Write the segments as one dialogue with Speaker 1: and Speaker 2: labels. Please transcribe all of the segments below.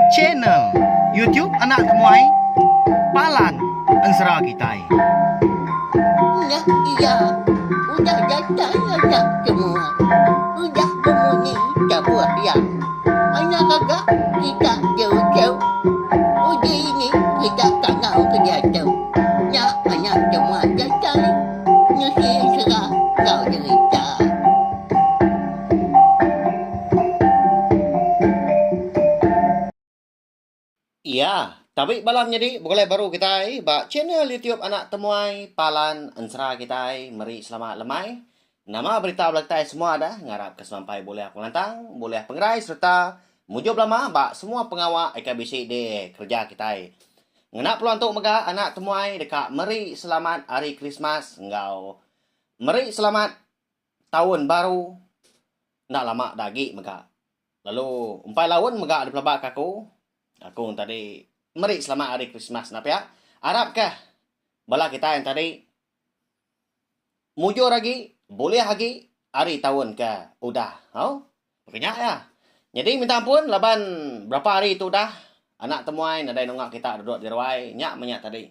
Speaker 1: Channel YouTube Anak Temuai Palan Ensera Kitai.
Speaker 2: Udah iya, udah datai anak temuai, udah bemunyi tabuh iya. Anak gaga kita diuchau, uji ini kita tangau ke diatu. Nya anak temuai datai, nusi ensera enggau derita.
Speaker 3: Iya, tabi bala menyadi begulai baru kitai ba channel YouTube Anak Temuai Palan Ensera kitai meri selamat lemai. Nama berita bala kitai semua dah ngarap ke semampai bulih pengelantang, bulih pengerai sereta mujur belama ba semua pengawa ika bisi di kereja kitai. Ngena peluang tu mega Anak Temuai deka meri selamat Hari Krismas enggau meri selamat Taun baru enda lama da agi mega lalu empai laun mega dipelaba ka aku. Aku entadi meri selamat hari Krismas enda pia arap ka bala kitai entadi mujur agi bulih agi ari taun ke udah hau baka nya iya. Nyadi minta ampun laban berapa hari tu udah anak temuai nadai nunga kita duduk di ruai nya meh nya tadi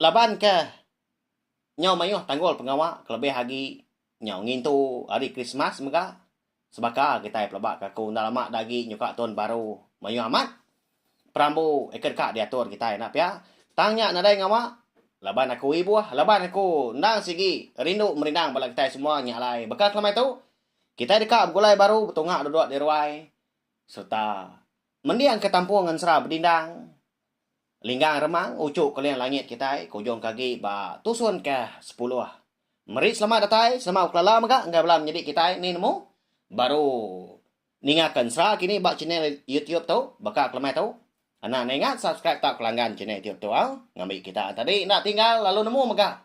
Speaker 3: laban ke Nyau mayuh tanggul pengawa kelebih agi nyau ngintu hari Krismas mega sebaka kitai pelaba ke aku enda lama da agi nyuka Tahun Baru mayuh amat perambu eka deka diatur kitai enda pia tang nya nadai ngawa laban aku ibuh laban aku endang sigi rindu merindang bala kitai semua nya alai baka kelemai tu kitai deka begulai baru betunga duduk di ruai sereta mendingka tampung ngan sera bedindang. Linggang remang uchu keling langit kitai ke ujung ke agi ba tusun ke sepuluh. Meri selamat datai, selamat bekelala mega enggai bala menyedi kitai ni nemu baru ninga ke ensra kini ba channel YouTube tu baka kelemai tu. Anak enda ingat subscribe tau kelanggan channel YouTube tu au ngambi kita ati adi enda tinggal lalu nemu mega.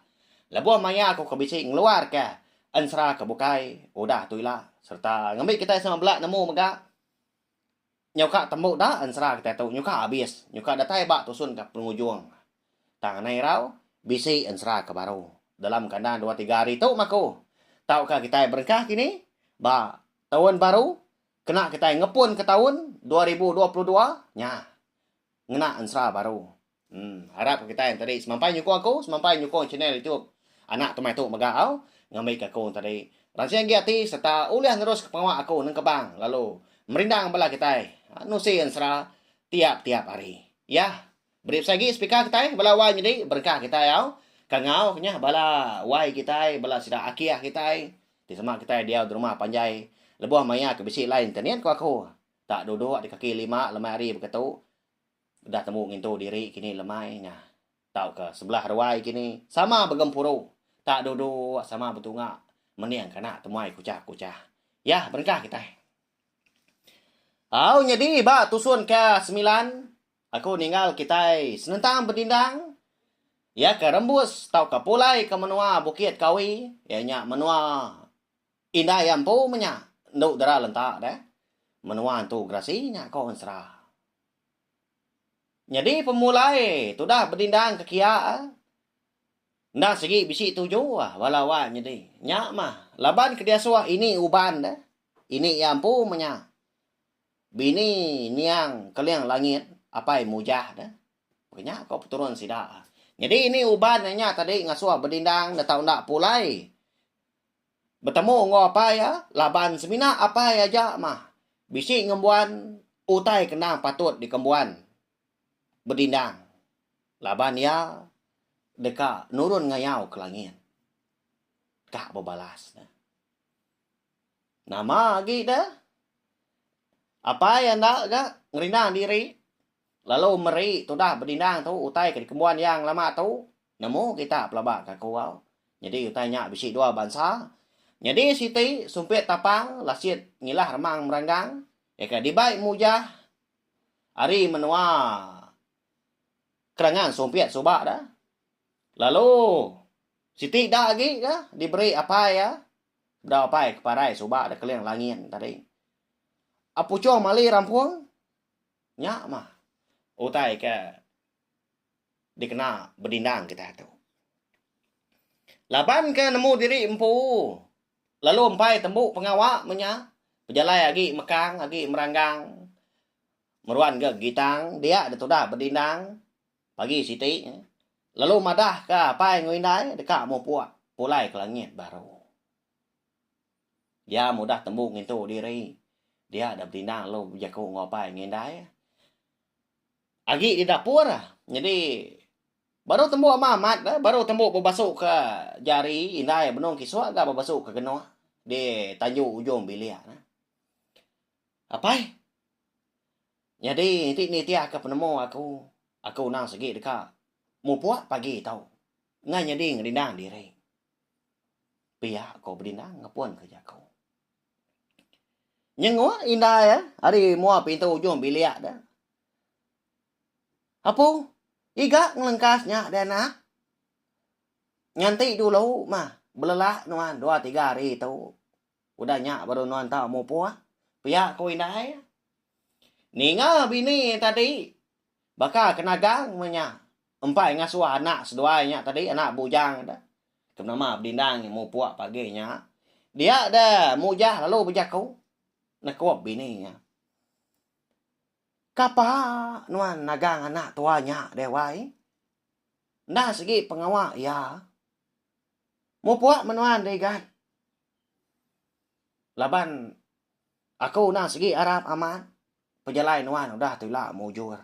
Speaker 3: Lebuh maya aku ke bisi ngeluar ke ensra ke bukai udah tu ila serta ngambi kitai sama bela nemu mega. Nyau ka tembu da ensera kitai tu nyukah abis nyukah datai ba tusun ka pengujung. Tang anai irau bisi ensera ka baru dalam kandang dua tiga hari tu maku tau ka kitai berengkah kini ba taun baru kena kitai ngepun ka taun dua ribu dua puluh dua nya ngena ensera baru Uhm harap ke kitai tadi semampai nyukung aku semampai nyukung channel YouTube anak tumai tu mega au ngambi ke aku tadi ransing agi ati serta ulih nerus ke pengawa aku neng kebang lalu merindang bala kitai nusi ensera tiap tiap hari yah beri besai agi speaker kitai bala wai nyadi berengkah kitai au ka ngau ke nyah bala wai kitai bala sida akih kitai ti sema kitai diau derumah panjai lebuh maya ke bisi line internet ku aku tak duduk di kaki lima lemai hari baka tu Udah tembu ngintu diri kini lemai nya tauka sebelah ruai kini sama begempuru tak duduk sama betunga mening kana temuai kuchah-kuchah. Yah berengkah kitai. Au nyadi ba tusun ke semilan aku ninggal kitai senentang bedindang iya ke rembus tauka pulai ke menua Bukit Kawi iya nya menua indai empu menya endu dera lenta deh menua entu gerasi nya ko ensera. Nyadi pemulai tudah bedindang ke kia enda sigi bisi tuju bala wak nyadi nya mah laban ke diasuh ini uban deh ini iya empu menya bini niang keling langit apai mujah deh nya ko peturun sida nyadi ini uban nya tadi ngasuh bedindang enda tau enda pulai. Betemu enggau apai iya laban semina apai aja mah bisi ngembuan utai ke endang patut dikembuan bedindang laban iya deka nurun ngayau ke langit. Ka bebalas ne. Nama agi de apai enda ga ngerinda diri lalu meri tudah bedindang tu utai ke dikembuan iya ngelama tu Nemu kita pelaba ka Kewau. Nyadi utai nya bisi dua bansa. Nyadi siti sumpit tapang lasit ngilah remang meranggang iya ke dibai mujah ari menua kerangan sumpit suba da. Lalu siti da agi ka diberi apai iya bedau apai ke parai suba da Keling Langin tadi. A puchong mali rampung nya mah utai ke. dikena bedindang kitai tu. Laban ke nemu diri empu lalu empai tembu pengawa menya pejalai agi mekang agi meranggang meruan ke gitang dia ditudah bedindang pagi siti lalu madah ke apai enggau indai deka mupuk pulai ke langit baru. Dia mudah tembu ngintu diri dia da bedindang lalu bejaku enggau apai enggau indai. Agi di dapur nyadi baru tembu ama amat bah baru tembu bebasuka jari indai benung kisuk ga bebasuka genuk di tanju ujung bilik ne. Apai nyadi iti nitihka penemu aku, aku nang sigi deka mupuk pagi tau ngah nyadi ngerindang diri. Pia ku bedindang ngepunka jaku. Nyenguk indai ari mua pintu ujung bilik ne. Apu, iga ngelengkas nya deh anak. Nganti dulu mah belelak nuan dua tiga hari tu. Udah nya baru nuan tau mupuk, pia ku indai. Ninga bini tadi baka ke nagang meh nya empai ngasuh anak seduai nya tadi, anak bujang deh. Ke nama bedindang iya mupuk pagi nya. Dia deh mujah lalu bejaku, nekup bini iya. Kapa nuan nagang anak tua nya deh wai? Enda sigi pengawa iya. Mupuk meh nuan deh igan. Laban aku enda sigi arap amat pejalai nuan udah tu ila mujur.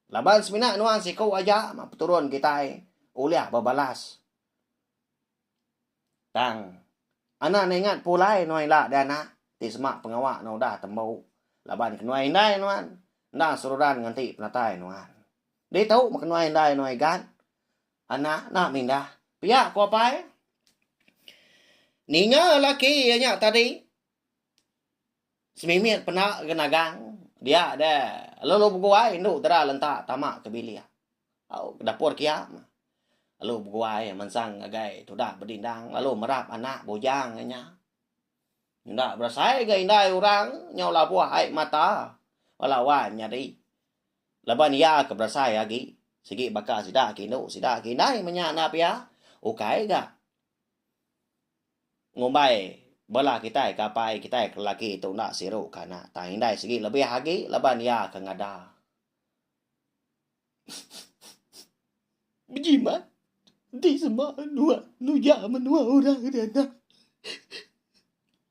Speaker 3: Laban semina nuan siku aja meh peturun kitai ulih bebalas. Tang. Anak ningat pulai nuan ila deh anak ti semak pengawa nuan udah tembu laban ke nuan indai nuan enda seruran nganti penatai nuan. Ditu meh ke nuan indai nuan igan anak enda mindah pia ku apai. Ninga laki iya nya tadi. Semimit pena genagang dia de lalu beguai indu tera lenta tama ke bilik. Au ke dapur kiang lalu beguai mensang ngagai tudah bedindang lalu merap anak bujang ke nya. Enda berasai ga indai orang nyau labuh ai mata bala wan nyadi laban iya ke berasai agi sigi baka sida ke indu sida ke indai menya enda pia ukai ga. ngumbai bela kitai ke apai kitai ke lelaki tu enda siru ke anak tang indai sigi lebih agi laban iya ke ngada bejimat enti sema nuan nuja menua orang ri anak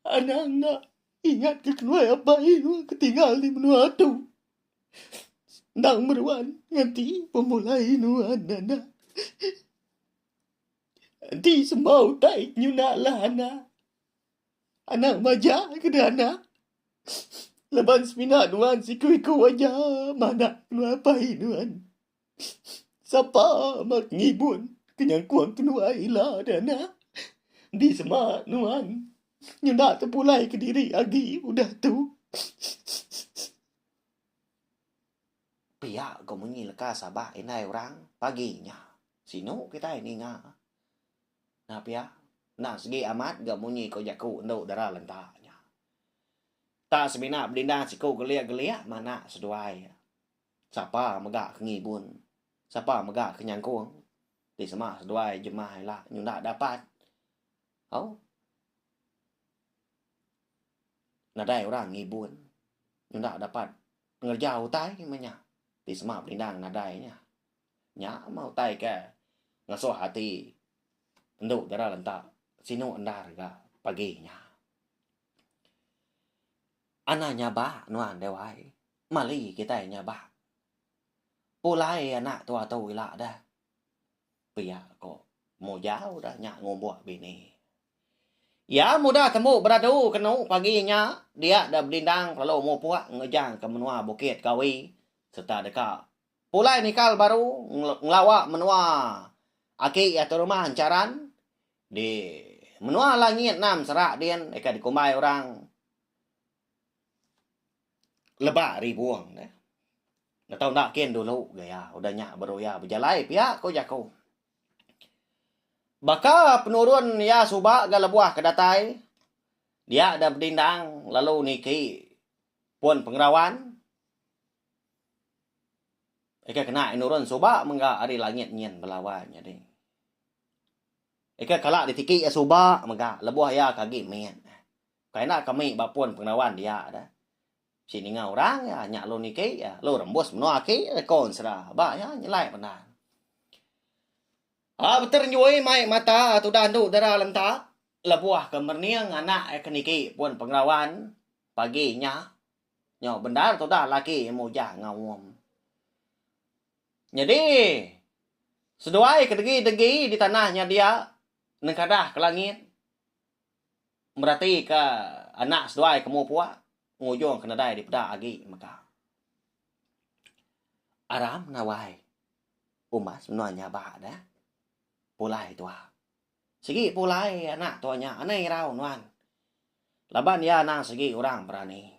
Speaker 3: anang enda ingat ke kenuai apai nuan ke tinggal di menua tu endang meruan nganti pemulai nuan anak. Enti semua utai ti nyuna lah anak, anak maja ke deh anak laban semina nuan siku-iku aja manah keluai apai nuan. Sapa meh ke ngibun ke nyangkung kenuai ila deh anak. Enti sema nuan nyuna tepulai kediri agi udah tu. Pia ko munyi leka sabak indai orang pagi nya. Sinu kitai ninga. Nah pia, enda segi amat ga munyi ko jaku endu dara lenta nya. Ta semina belinda siku gelik-gelik manak seduai. Sapa mega ke ngibun, sapa mega ke nyangkung ti sema seduai jemah ila nyunda dapat. Au. Nadai orang ngibun nyunda dapat Pengereja utai meh nya ti sema benindang nadai nya. Nya mah utai ke ngesuh ati endu dara lenta sinu endar ga pagi nya. Ana nya ba nuan deh wai. Mali kitai nya ba. Pulai anak tua tu ila deh. Pia ko Mujau deh nya ngumbuk bini. Iya mudah tembu beradu kenu pagi nya dia da Belindang kelalu mupuk ngejang ke menua Bukit Kawi sereta deka pulai nikal baru ngelawa menua aki iya tu rumah Encharan di menua Langit Enam Serak din deka dikumbai orang Leba Ribung ne. Ngetau enda kin dulu gaya udah nya baru iya bejalai pia ku jaku. Baka penurun iya suba ga lebuh ke datai, dia deh bedindang lalu niki pun pengerawan. Ika kena iya nurun suba mega ari langit nyin bala wai nyadi. Ika kala ditiki iya suba mega lebuh iya ke agi mit. Kai enda kami ba pun pengerawan dia deh. Si ninga orang iya nya lu niki iya, lu rembus menua aki reko ensera ba iya nyelai benang. A Beter Njui mai mata tudan tu dera lenta lebuh ke merening anak iya ke niki pun pengerawan pagi nya nyau bendar tudah laki iya mujang ngaum. Nyadi seduai ke degi-degi di tanah nya dia nengkadah ke langit. meratika anak seduai ke mua puak ngujung ke nadai dipeda agi mega. Aram nawai umas menua nya ba deh pulai tua. Sigi pulai anak tua nya anai irau nuan laban iya anang sigi orang berani.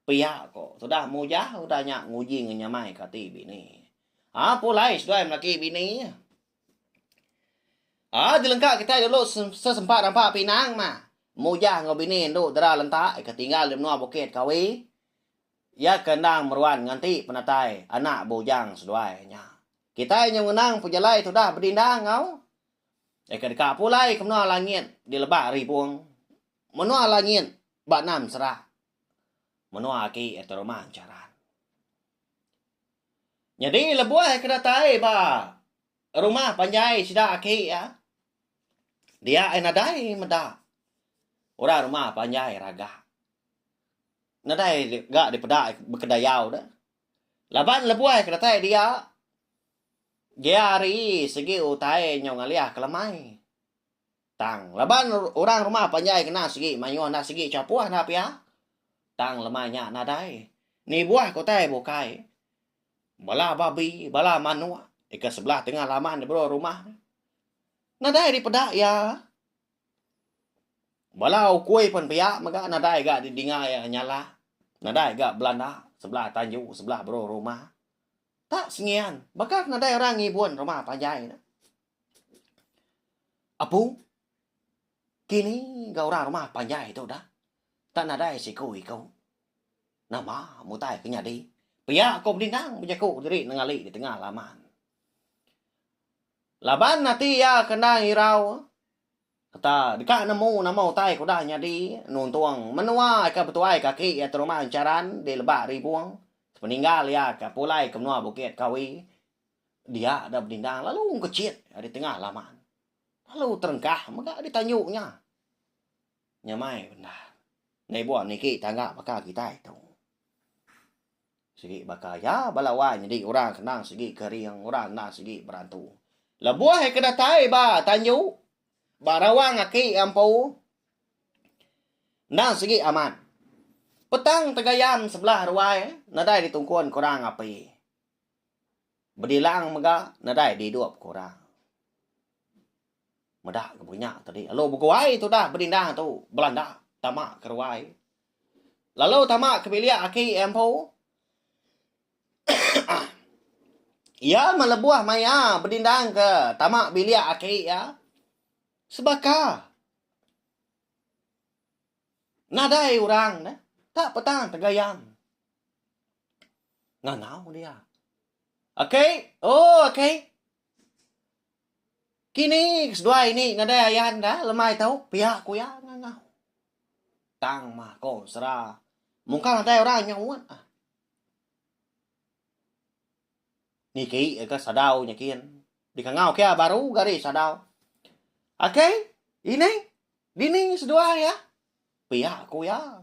Speaker 3: Pia ko tudah mujah udah nya nguji ngenyamai ke ati bini. Haa pulai seduai melaki bini. Ah jelengka kitai dulu sesempa rampa pinang mah. Mujah enggau bini endu dera lenta ika tinggal di menua bukit Kawi. Iya ke endang meruan nganti penatai anak bujang seduai nya. Kitai nyau ngenang pejalai tudah bedindang enggau ika deka pulai ke menua langit di lebak ribung. Menua langit ba enam sera. Menua aki ati rumah encharan. Nyadi lebuh ke datai ba rumah panjai sida aki iya, dia iya nadai meda orang rumah panjai raga. Nadai ga dipeda bekedayau deh. Laban lebuh ke datai dia, dia ari segi utai nyau ngalih kelemai. Tang laban orang rumah panjai kena sigi mayuh enda sigi chapuh enda pia. Tang lemai nya nadai. Nibuh ke utai bukai. Bala babi, bala manuk ika sebelah tengah laman di bro rumah. Nadai dipeda iya. Bala ukui pun pia mega nadai ga didinga iya nyala. Nadai ga belanda sebelah tanju sebelah bro rumah. Tak sengian baka nadai orang ngibun rumah panjai ne. Apu, kini ga orang rumah panjai tu dah tak nadai siku iku. Nama mutai ke nyadi? Pia ko Bedingang bejaku diri nengali di tengah laman. Laban ati iya ke enda ngirau sereta deka nemu nama utai ke udah nyadi nuntung menua ke betuai kaki iya terumah encharan di Lebak Ribung sepeninggal iya ke pulai ke menua Bukit Kawi Dia da bedindang lalu ngkecit ari tengah laman. Lalu terengkah mega ari tanju nya. Nyamai bendar. Nei buah niki tangga baka kitai tu. Sigi baka iya bala wai nyadi orang kendang sigi ke ring, orang kendang sigi berantu. Lebuh ke datai ba tanju, ba rawang aki empu, endang sigi amat. Petang tegayan sebelah ruai nadai ditungkun ke orang api. Bedilang mega nadai didup ku orang. Meda ke buk nya tadi lalu beguai tudah bedinda tu belanda tama ke ruai. Lalu tama ke bilik aki empu. Iya melebuh maya bedindang ke tama bilik aki iya sebaka. Nadai orang neh ka petang tegayam. Ngangau dia. Akei, oh akei. Kini ke seduai ni nadai ayan ka lemai tau pia ku iya ngangau. Tang mah ko sera. Mungkang nadai orang nyauut ah. Niki ga sadau nyakin. Dikangau kia baru gari sadau. Akai, ining, dini seduai iya? Pia ku iya.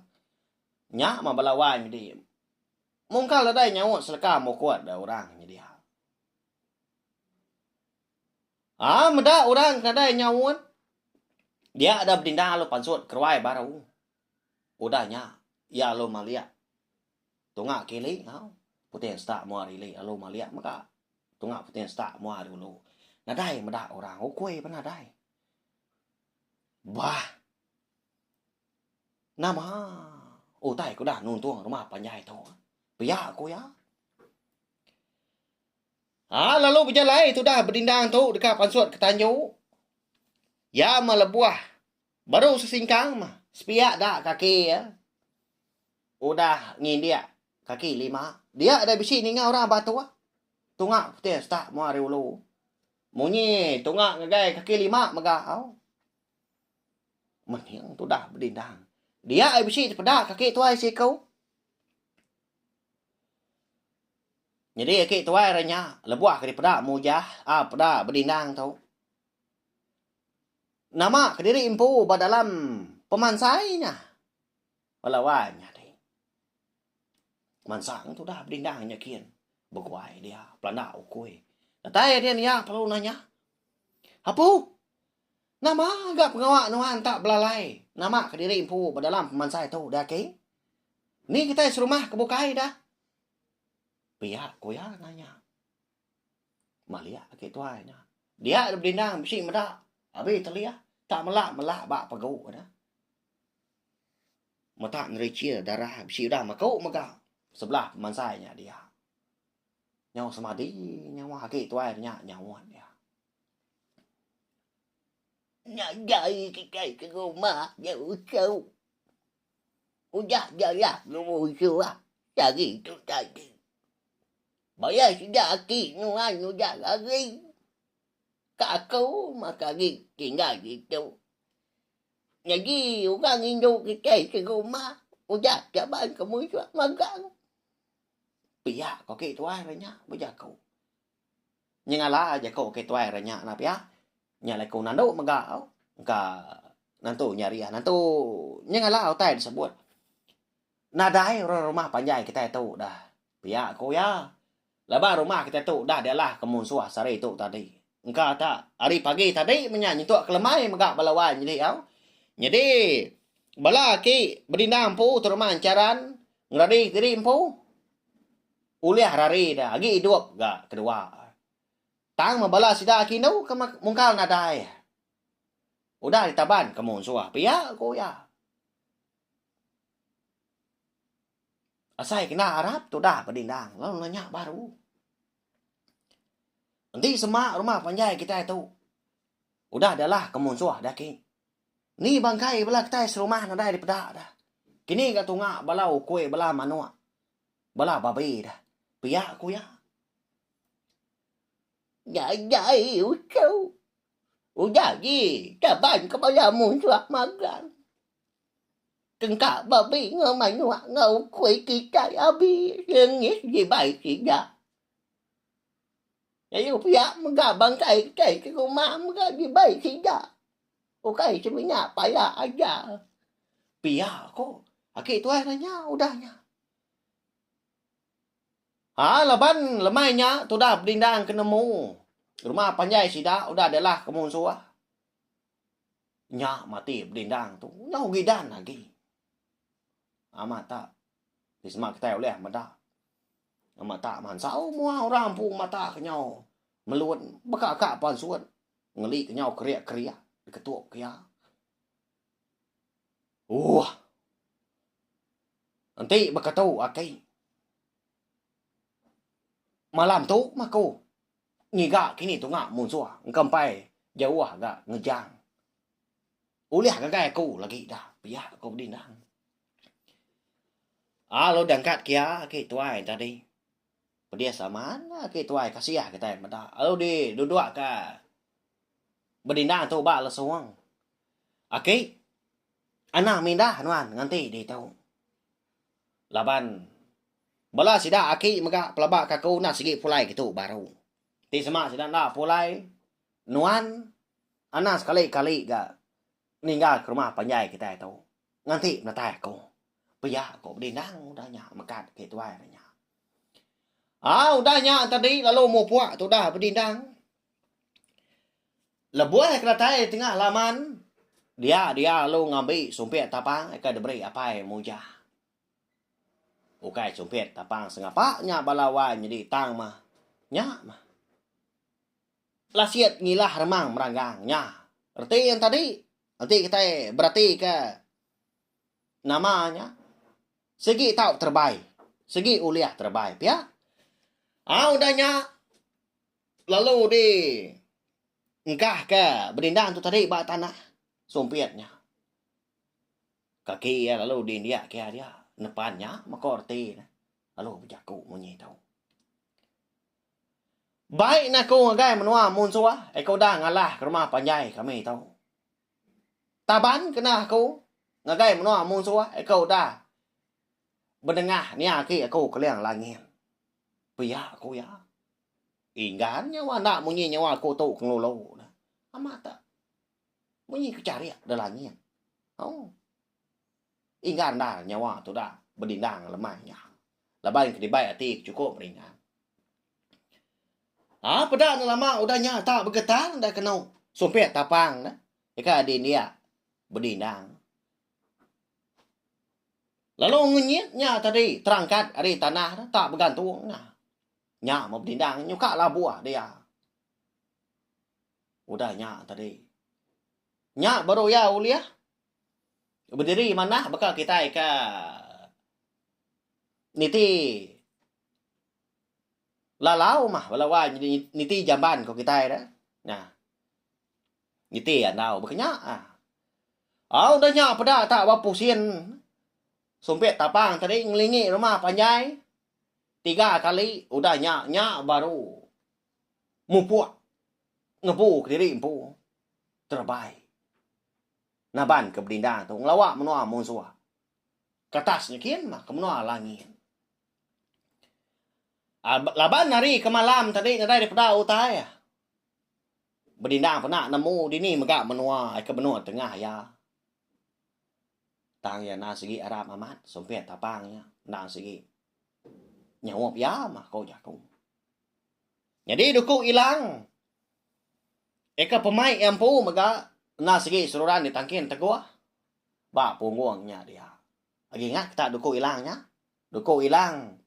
Speaker 3: Nya mah bala wai medi. Mungkal nadai nyaut seleka mukut da orang nyedia. Ah, meda orang ke nadai nyaut. Dia da bedinda lu pansut keruai baru. Udah nya, iya lu malik. Tunga kili enggau puting setak mua ari ili lalu malik mega tunga puting setak mua ari ulu. Nadai meda orang ukui pun nadai. Bah. Nama utai ke udah nuntung rumah panjai tu? Pia ku iya. Ha, lalu bejalai tudah bedindang tu deka pansut ke tanju. Iya melebuh Baru sesingkang mah, sepiak da kaki iya udah ngindik kaki lima. Dia da bisi ninga orang batuk. Tunga putih setak mua ari ulu. Munyi tunga ngagai kaki lima mega au. Mening tudah bedindang. Dia bisi tepeda kaki tuai siku. Nyadi kaki tuai renya lebuh ke dipeda mujah, a peda bedindang tu. Nama kediri empu ba dalam pemansai nya? Bala wai nyadi. Mansang tu udah bedindang nyakin beguai dia pelanda ukui. Datai din iya perlu nanya. Apu, nama ga pengawa nuan enta belalai nama kediri empu ba dalam pemansai tu dah ke? Ni kitai serumah ke bukai dah? Pia ku iya nanya. Maliah agi tuai nya. Dia dek bedindang bisi meda abi telih tak mela mela ba pegu nya. Meta nerichil darah bisi udah meku mega sebelah pemansai nya dia. Nyau semadi nyawa agi tuai nya nyaut dia.
Speaker 2: Nya jai kitai ke rumah je usuh. Udah jalah nemu usuh ah. Sagi tu tadi. Baya sida aki nuan udah lari ka aku maka agi tinggal ditu. Nyadi orang indu kitai ke rumah udah caban ke musuh magang.
Speaker 3: Pia ko aki tuai re nya bejaku. Nyengala jaku aki tuai re nya nah pia. Nya alai ku nandu mega engka nentu nyariah nentu nyengala utai disebut. Nadai orang rumah panjai kitai tu dah, pia ku iya. Laban rumah kitai tu dah dialah ke munsuh sehari tu tadi. Engka tak, hari pagi tadi menya nyentuk kelemai mega bala wai nyelih au. Nyadi, bala aki bedindang empu terima encharan ngerari diri empu ulih rari da agi idup ga kedua. Tang meh bala sida aki indu ke mungkal nadai udah ditaban ke munsuh, pia ku iya. Asai kena arap tudah bedindang lalu nanya baru. Enti sema rumah panjai kitai tu udah dialah ke munsuh dah ki. Ni bangkai bala kitai serumah nadai dipeda dah. Kini ga tunga bala ukui bala manuk bala babi dah pia ku iya.
Speaker 2: Ngagai uchu. Udah agi kaban ke bala munsuh magang. Tengka babi enggau manuk enggau ukui ke itai abi lengih dibai sida. Lalu pia mega bangkai kitai ti rumah mega dibai sida. Ukai semina pala aja. Pia
Speaker 3: ko aki tuai nanya udah nya. Ha laban lemai nya tudah bedindang ke nemu rumah panjai sida udah dialah ke munsuh. Nya matik bedindang tu nyau gidan agi. Amat tak ti sema kitai ulih meda. Amat tak mansau mua orang empu mata ke nyau melut baka ka pansut ngeli ke nyau kerik-kerik diketuk ke iya. Uuh. Enti baka tu aki. Malam tu mah ku. ngiga kini tunga munsuh engka empai jauh ga ngejang. Ulih ngagai aku lagi da pia ku bedindang. Alu dengkat kia aki tuai tadi. Pedis amat aki tuai kasih kitai meda alu di duduk ka bedindang tu ba lesung. Aki anang mindah nuan nganti ditu. Laban Bala sida aki mega pelaba ke aku enda sigi pulai ke tu baru. Ti sema sida enda pulai nuan anak sekali kali ga ninggal ke rumah panjai kitai tu nganti menatai aku. Pia ko bedindang udah nya mekat ke tuai udah nya. Au udah nya tadi lalu mupuk tudah bedindang. Lebuh ke datai di tengah laman dia dia lalu ngambi sumpit tapang ke diberi apai Mujah. Ukai chumpit tapang sengapa nya bala wai nyadi tang mah nya mah. Lasit ngilah remang meranggang nya reti enta di enti kitai beratika nama nya sigi tau terebai sigi ulih terebai pia. Au udah nya lalu di engkahka bedindang tu tadi ba tanah sumpit nya. Kaki iya lalu diindiak ke iya dia, nepan nya meko reti ne lalu bejaku munyi tu. Bai na aku ngagai menua munsuh eh ke udah ngalah ke rumah panjai kami tu. Taban kena aku ngagai menua munsuh eh ke udah benengah nia agi aku keling langit. Pia ku iya. Inggan nyawa enda munyi nyawa aku tu ke ngelulu ne. Amat. Munyi ke charik da langit. Hoo. Inggar endar nyawa tudah bedindang lemai nya. Laban ke dibai ati ke chukup meringa. Ha peda enda lama udah nya tak begetang enda kenu sumpit tapang ne deka dindik bedindang. Lalu ngenyit nya tadi terangkat ari tanah ne tak begantung nah. Nya meh bedindang nyuka labuh dia. Udah nya tadi. Nya baru iya ulih bediri manah baka kitai ke niti lalau mah bala wai niti jamban ko kitai dah. Nah. Niti andau baka nya. Ah. Au dah nya peda ta ba pusin sumpit tapang tadi ngelingi rumah panjai tiga kali udah nya nya baru mupuk ngebu kediri empu terebai nabanka bedinda tu ngelawa menua munsuh kertas nya kin mah ke menua langit. Laban ari ke malam tadi nadai dipeda utai bedinda pena nemu dini mega menua ke benut tengah iya. Tang iya enda sigi arap amat sumpit tapang iya enda sigi nyaup iya mah ko jaku. Nyadi duku Ilang eka pemai iya empu mega enda sigi seruran ditangkin teguh ba punggung nya dia. Agi ingat ke tak duku Ilang nya? Duku Ilang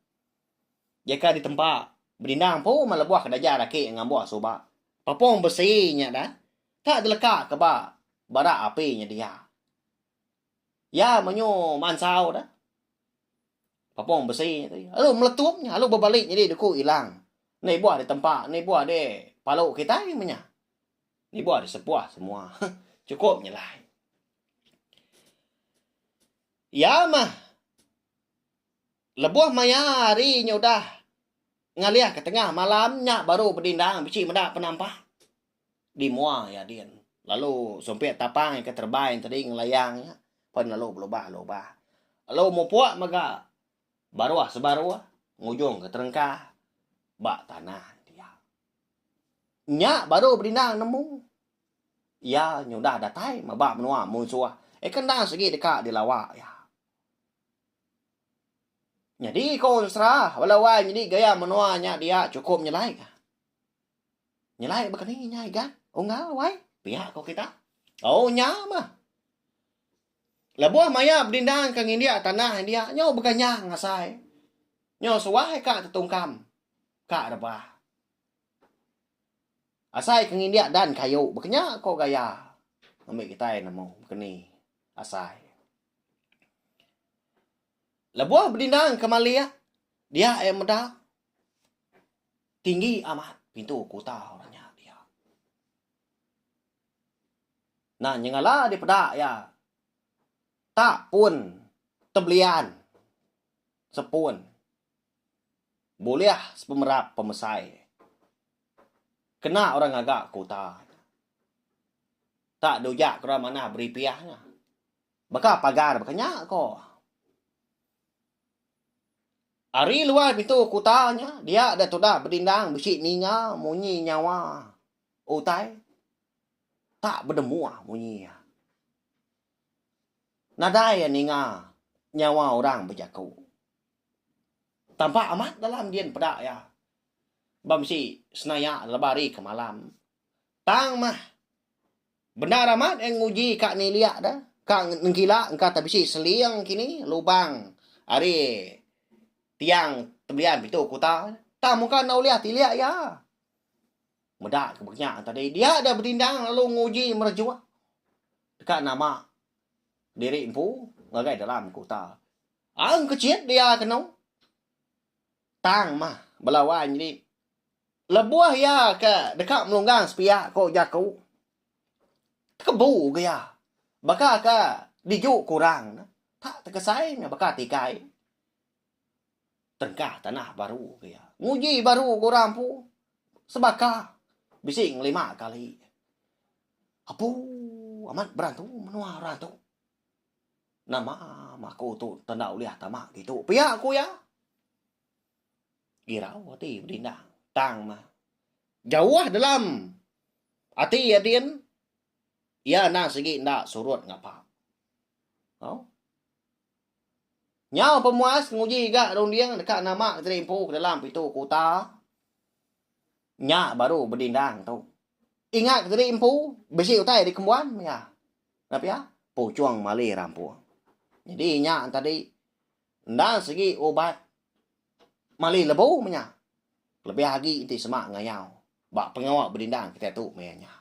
Speaker 3: jeka ditempa beninda empu meh lebuh ke daja raki ngambuh suba. Papung besi nya dah tak deleka ke ba bara api nya dia. Iya menyu mansau dah. Papong besi nya tadi. Lalu meletup nya, lalu berbalik jadi deku ilang. Ni buah di tempa, ni buah di palu kita menya. Ni buah di sepuah semua. Cukup nyelai. Iya mah lebuh maya hari nya udah ngalih ke tengah malam nya baru bedindang bisi meda penampak. Di mua iya din lalu sumpit tapai ke terbine tadi ngelayang iya pen lalu belubah lubah. Lalu mupuk mega baruh sebaruh ngujung ke terengka ba tanah dia. Nya baru Bedinang nemu iya nyudah datai meba menua munsuh eh ke enda sigi deka dilawa iya. Nyadi ko ensera bala wai nyadi gaya menua nya dia chukup nyelai ka. Nyelai baka ni inya Igan? Unggal wai? Pia ko kita. Oh nya mah. Lebuh maya bedindang ke ngindik tanah india nyau beganyang ngasai. Nyau suah ka tetungkam. Ka rebah. Asai ke ngindik dan kayu bekenya ko gaya ambi kitai nemu keni asai. Lebuh bedindang ke malik dia ia meda Tinggi amat pintu kuta orang nya dia. Nah, nyengala dipeda iya. Tak pun tebelian sepun. Bulih sepemerap pemesai. Kena orang ngaga kuta. Tak dujak ke orang manah beripiah nya. Baka pagar baka nya ko. Ari luai pintu kuta nya, dia dek tudah bedindang bisi ninga munyi nyawa utai tak bedemuh munyi iya. Nadai iya ninga nyawa orang bejaku. Tampak amat dalam din peda iya ba bisi senaya lebuh hari ke malam. Tang mah. Bendar amat eh nguji ka nilik da, ka nengkila engka tau bisi seling kini lubang ari tiang tebelian pitu kuta tang mungka enda ulih tilik iya. Meda ke benya tadi dia da betindang lalu nguji merejuk deka nama diri empu ngagai dalam kuta. Ang kecit dia kenu. Tang mah bela wan nyadi lebuh iya ke deka melunggang sepiak ko jaku tekebu ga iya baka ka diju ku orang ne tak tekesai ne baka tikai tengkah tanah baru ga iya nguji baru ga orang empu sebaka bisi ngelima kali apu amat berantu menua orang tu. Nama maku tu enda tau ulih tama ditu pia ku iya. Girau ati Bedindang tang meh jauh dalam ati iya din iya anang sigi enda surut ngapa. Au. Nyau pemuas nguji ga runding deka nama Geteri Empu ke dalam pitu kuta. Nya baru bedindang tu. Ingat ke diri empu bisi utai di kembuan mega. Nah pia, puchung mali rampung. Jadi nya tadi enda segi ubat mali lebu mega. Lebih agi enti sema ngayau ba pengawa bedindang kitai tu maya nya.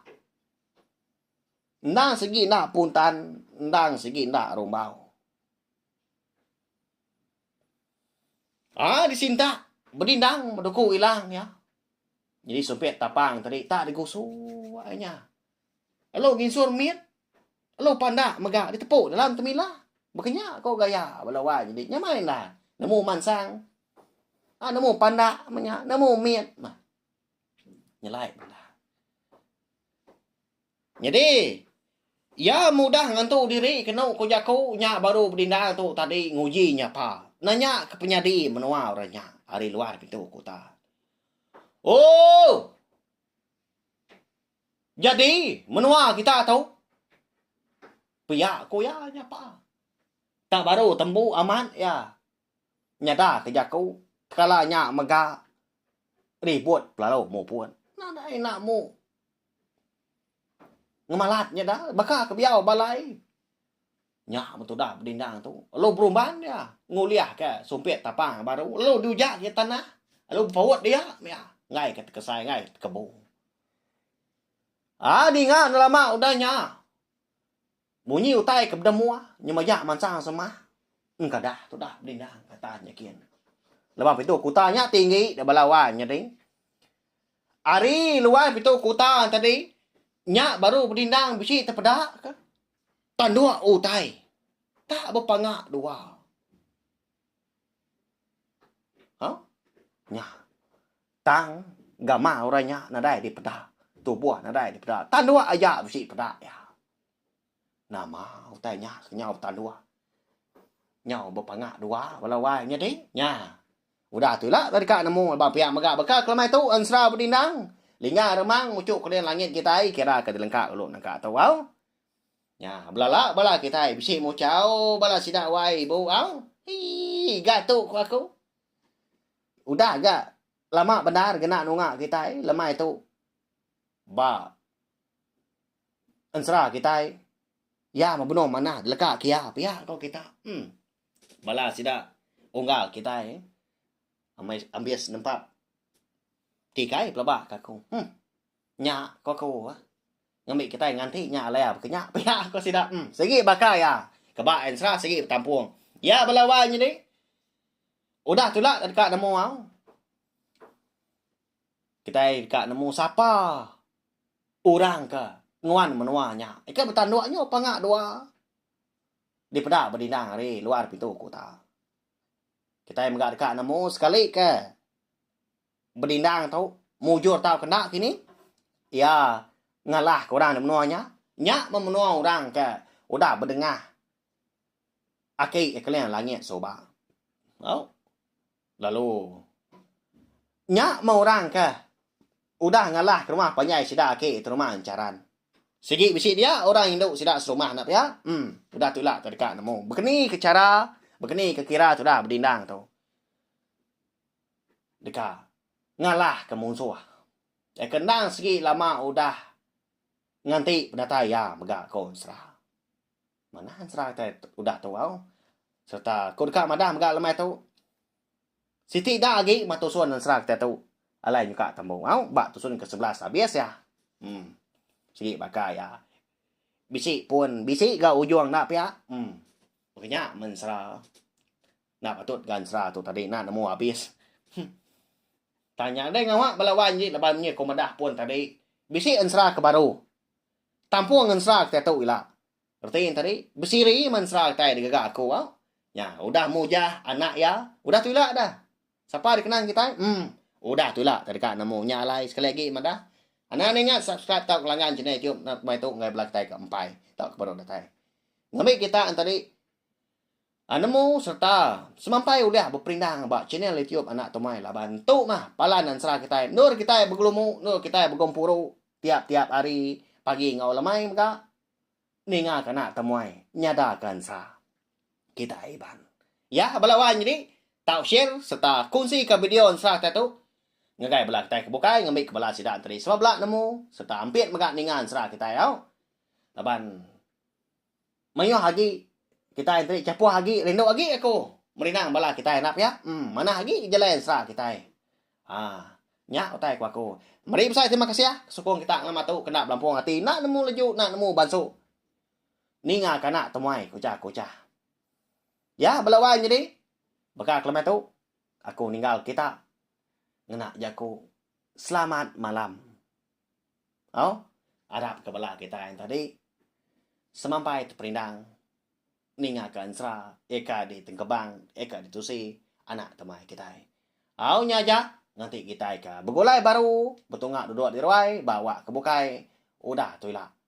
Speaker 3: Endang segi enda puntan, endang segi enda rumbau. Ah disinta bedindang beduku ilang iya. Nyadi supit tapang tadi tak digusu ai nya. Lalu nginsur mit lalu panda mega ditepu dalam temila. Bekenya ko gaya bala wai nyadi nyamai enda nemu mansang ah nemu panda menya nemu mit mah. Nyelai bala. Nyadi, iya mudah ngentu diri kenu ku jaku nya baru bedindang tu tadi nguji nyapa nanya ke penyadi menua orang nya ari luar pintu kuta. Oh! Jadi, menua kita tu pia ku iya nyapa. Tak baru tembu amat iya. nyada ke jaku kala nya mega ribut lalu mupun nadai enda mu ngemalat nya da baka ke biau balai nya men tudah bedindang tu lalu berumban dia ngulih ke sumpit tapang baru lalu di uja ke tanah lalu bepaut dia mia enggai ke tekesai enggai ke tekebu. Aa dinga enda lama udah nya. Munyi utai ke beda mua nyema iya mansang semah engkadah tudah bedindang kata nya gin. Leban pitu kuta nya ti enggi di bala wai nyadi. Ari luai pitu kuta tadi nya baru bedindang bisi tepeda ke tanduk utai tak bepanga dua. Au nya tang gamal orang nya nadai dipeda tubuh nadai dipeda tanduk aja bisi peda iya. Nama utai nya kenyau betanduh. Nyau bepanga dua bala wai nyadi nya. Udah tu ila deka nemu ba pia mega baka ke lemai tu ensera bedindang lingga remang muchuk keleng langit kitai kira ke dilengka ulu naka tu au. Nya belala bala kitai bisi muchau bala sida wai bu au. Eii ga tu ku aku. Udah ga lama bendar kena nunga kitai lemai tu ba. Ensera kitai. Iya mebenung manah deleka kia pia ko kita. Em. Bala sida unggal kitai amai ambis nempa tikai pelaba ka aku. Em. Nya ko aku ah. Ngambi kitai nganti nya alai baka nya pia ko sida. Em. Sigi baka iya. Keba Ensera sigi betampung. Iya bala wai nyadi udah tulak deka nemu au. Kitai deka nemu sapa orang ke nguan menua nya. Ika betanduk nyu panga dua dipeda bedindang ari luar pintu kota. Kitai mega deka nemu sekali ke bedindang tu mujur tau ke enda kini iya ngalah ke orang di menua nya. Nya meh menua orang ke udah bedengah aki keling langit suba. Au. Lalu, nya meh orang ke udah ngalah ke rumah panjai sida agi tu rumah encharan. Sigi bisi dia orang indu sida serumah enda pia, em udah tu ila ke deka nemu bekeni ke chara, bekeni ke kira tudah bedindang tu deka ngalah ke munsuh. Ai ke endang sigi lama udah nganti penatai iya mega ko Ensera. Manah ensera kitai udah tuau sereta ku deka madah mega lemai tu, siti ida agi meh tusun ensera kitai tu alai nyuka tembu au ba tusun ke sebelas abis iya. Em. Sigi baka iya bisi pun bisi ga ujung enda pia. Em. Mega nya men ensera enda patut ga ensera tu tadi enda nemu abis. Heh. Tang nya deh ngawa bala wan ji laban menyi ku madah pun tadi bisi ensera ke baru. Tampung ngensera kitai tu ila. Reti enti ari, besiri mensera kitai digaga aku au. Nya udah mujah anak iya, udah tu ila dah. Sapa dikenang kitai? Em, udah tu ila tau deka nemu nya alai sekali agi madah. Anang enda ingat subscribe tauka langgan channel YouTube Nut Bai tu enggai bala kitai ke empai tauka baru datai. Ngambi kita enti ari. A Nemu sereta semampai ulih beperindang ba channel YouTube Anak Tumai laban tu mah palan ansra kitai endur kitai begelumu endur kitai begempuru tiap-tiap hari pagi enggau lemai mega ninga ke anak temuai nyada ke ansra kitai Iban. Ya bala wan nyadi tau share sereta kunsi ka video ansra kitai tu ngagai bala kitai ke bukai ngambi ke bala sida enti di sama bela nemu sereta ampit mega ninga ansra kitai au laban Mayuh agi kitai enti chapuh agi rindu agi aku merindang bala kitai enda pia em manah agi jalai ensera kitai aa nya utai ku aku. Meri besai terima kasih sukung kita ngelama tu ke enda belampung ati enda nemu leju enda nemu bansu ninga ke anak temuai ku ujar aku ucah iya bala wai nyadi baka ke lema tu aku ninggal kita ngena jaku selamat malam. Au, arap ke bala kitai enti tadi semampai teperindang ninga ke ensera iya ka di Tengkebang iya ka di Tusi anak temai kitai. Au nya aja ngenti kitai ka begulai baru betunga dudok di ruai ba awak ke bukai udah tu ila